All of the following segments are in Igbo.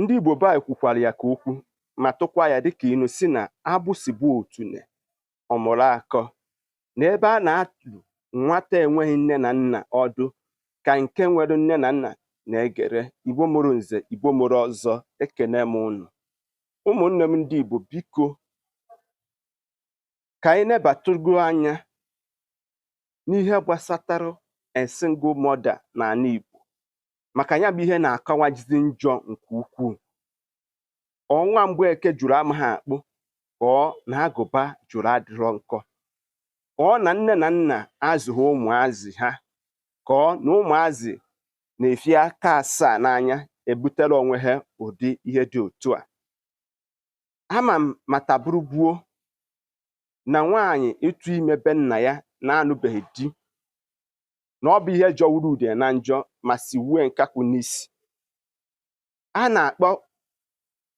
Ndị Igbo be anyị kwukwara ya ka okwu ma tụkwa ya dịka inu si na agbụsị gbaa otune ọ mụrụ akọ na ebe a na-adụ nwata enweghị nne na nna ọdụ ka nke nwere nne na nna na-egere Igbo mụrụ nze Igbo mụrụ ọzọ ekene m unu ụmụnne m ndị Igbo biko ka anyị nebatụgo anya n'ihe gbasatara a single mother n'ala Igbo maka ya bụ ihe na-akawajizi njọ nke ukwuu ọ nwa Mgbeke jụrụ amaghị akpụ ka ọ na agụba jụrụ adịrọ nkọ ọ na nne na nna azụghị ụmụazị ha ka ọ na ụmụazị na-efika asaa n'anya ebutere onwe ha ụdị ihe dị otu a ama m ma taa bụrụ gboo na nwaanyị ịtụ ime be nna ya na-anụbeghị di na ọ bụ ihe jọwuru udene njọ ma siwue nkakwụ n'isi a na-akpọ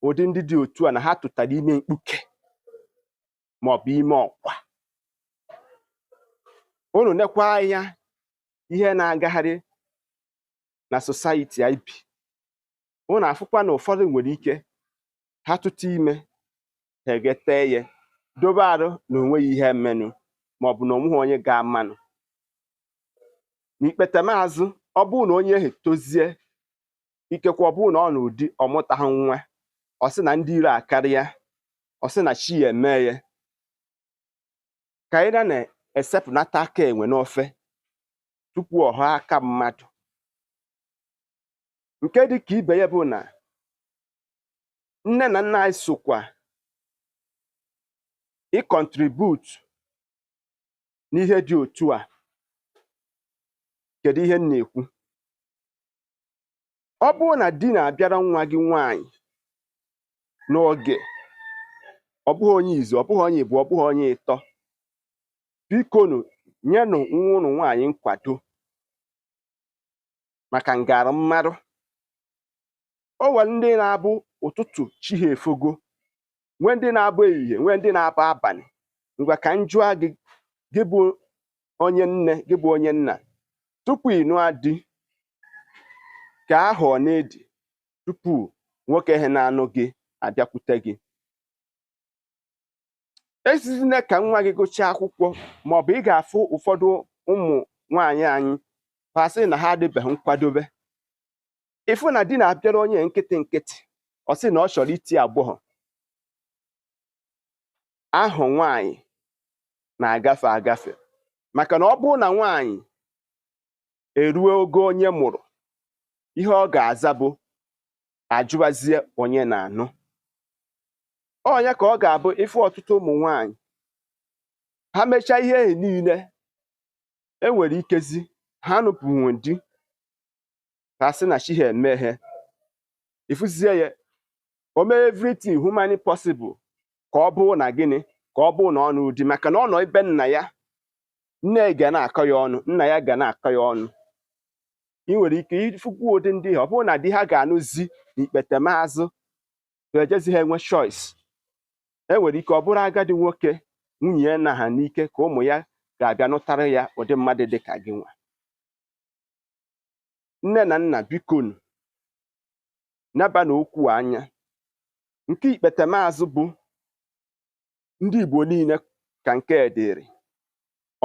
ụdị ndị dị otu a na ha tụtara ime mkpuke ma ọ bụ ime ọkwa unu nekwa anya ihe na-agagharị na society anyị bi unu afụkwa na ụfọdụ nwere ike ha tụta ime ha egete ya dobe arụ na onweghị ihe menụ maọbụ na onweghị onye ga-amanụ n'ikpetemazụ ọ bụrụ na onye ahụ tozie ikekwe ọ bụrụ na ọ nụọ di ọ mụtaghị nwa ọ sị na ndị iro akarịa ọ sị na chi ya eme ya ka anyị na-esepụnata aka enwe n'ofe tupu ọ ghọọ aka mmadụ nke dị ka ibe ya bụ na nne na nna anyị sokwa ịcontribute n'ihe dị otu a kedu ihe m na-ekwu ọ bụrụ na di na-abịara nwa gị nwaanyị n'oge ọ bụghị onye izizi ọ bụghị onye ịbụọ ọ bụghị onye ịtọ bikonu nyenụ nwa unu nwaanyị nkwado maka ngara mmadụ o nwere ndị na-abụ ụtụtụ chi ha efogo nwee ndị na-abụ ehihie nwee ndị na-abụ abanị ngwa ka m jụọ gị gị bụ onye nne gị bụ onye nna tupu ị nụọ di kee ahọ one ị dị tupu nwoke ahụ na-anụ gị abịakwute gị esizina ka nwa gị gụchaa akwụkwọ maọbụ ị ga-afụ ụfọdụ ụmụ nwaanyị anyị ha asị na ha adịbeghị nkwadobe ị fụ na di na-abịara onye nkịtị nkịtị ọ sị na ọ chọrọ iti agbọghọ ahụ nwaanyị na-agafe agafe maka na ọ bụrụ na nwaanyị eruo ogo onye mụrụ ihe ọ ga-aza bụ a jụwazie onye na-anụ ọ nya ka ọ ga-abụ ị fụ ọtụtụ ụmụ nwanyị ha mechaa ihe ehi niile enwere ikezi ha nụpụnwe di ha asị na chi ha emeghe ị fụzie ya o mee everything humanly possible ka ọ bụrụ na gịnị ka ọ bụrụ na ọ nụ di maka na ọ nọ ebe nna ya nne ga na-akọ ya ọnụ nna ya ga na-akọ ya ọnụ ị nwere ike ịfụkwu ụdị ndị a ọ bụrụ na di ha ga-anụzi n'ikpetemazụ ejezi ha enwe choice e nwere ike ọ bụrụ agadi nwoke nwunye ya na ha n'ike ka ụmụ ya ga-abịa nụtara ya ụdị mmadụ dị ka gịnwa nne na nna bikonu nebanụ okwu a anya nke ikpetemazụ bụ ndị Igbo niile ka nke a dịrị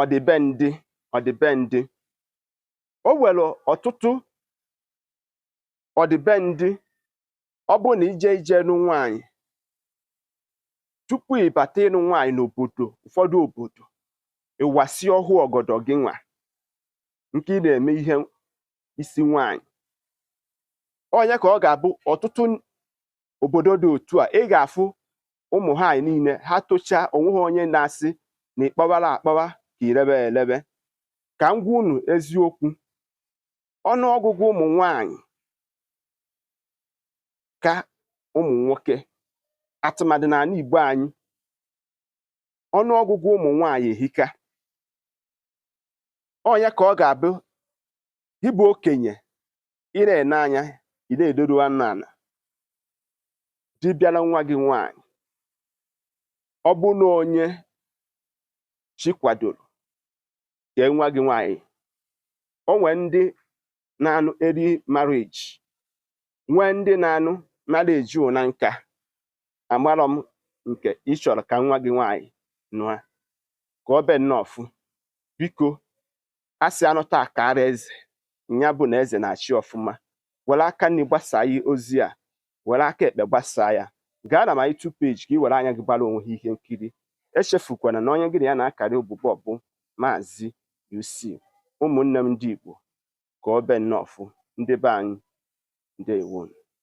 ọdịbendị ọdịbendị o nwere ọtụtụ ọdịbendị ọ bụrụ na i je ije nụ nwaanyị tupu ị bata ịnụ nwaanyị n'obodo ụfọdụ obodo ị wasị ọhụ ọgọdọ gịnwa nke ị na-eme ihe isi nwaanyị ọ nya ka ọ ga-abụ ọtụtụ obodo dị otu a ị ga-afụ ụmụ nwanyị niile ha tochaa onweghị onye na-asị na ị kpọwara akpọwa ka i lebe elebe ka m gwa unu eziokwu ọnụọgụgụ ụmụ nwanyị ka ụmụ nwoke atụmadị n'ala Igbo anyị ọnụọgụgụ ụmụ nwanyị ehika ọ nya ka ọ ga-abụ ị bụ okenye ị na-ene anya ị na-edoru anya ala di bịara nwa gị nwaanyị ọ bụ na onye chi kwadoro kee nwa gị nwaanyị o nwee ndị na-anụ early marriage nwee ndị na-anụ marriage na nka amarọ m nke ị chọrọ ka nwa gị nwaanyị nụa ka ọ be nnọọfụ biko a sị a nụta a kaara eze ya bụ na eze na-achị ọfụma were aka nri gbasaa ya ozi a were aka ekpe gbasaa ya gaa na my YouTube page ka ị were anya gị gbara onwe gị ihe nkiri echefukwana na onye gị na ya na-akarị ụbụbọ bụ maazị UC ụmụnne m ndị Igbo ka ọ be nnọọfụ ndị be anyị ndewonu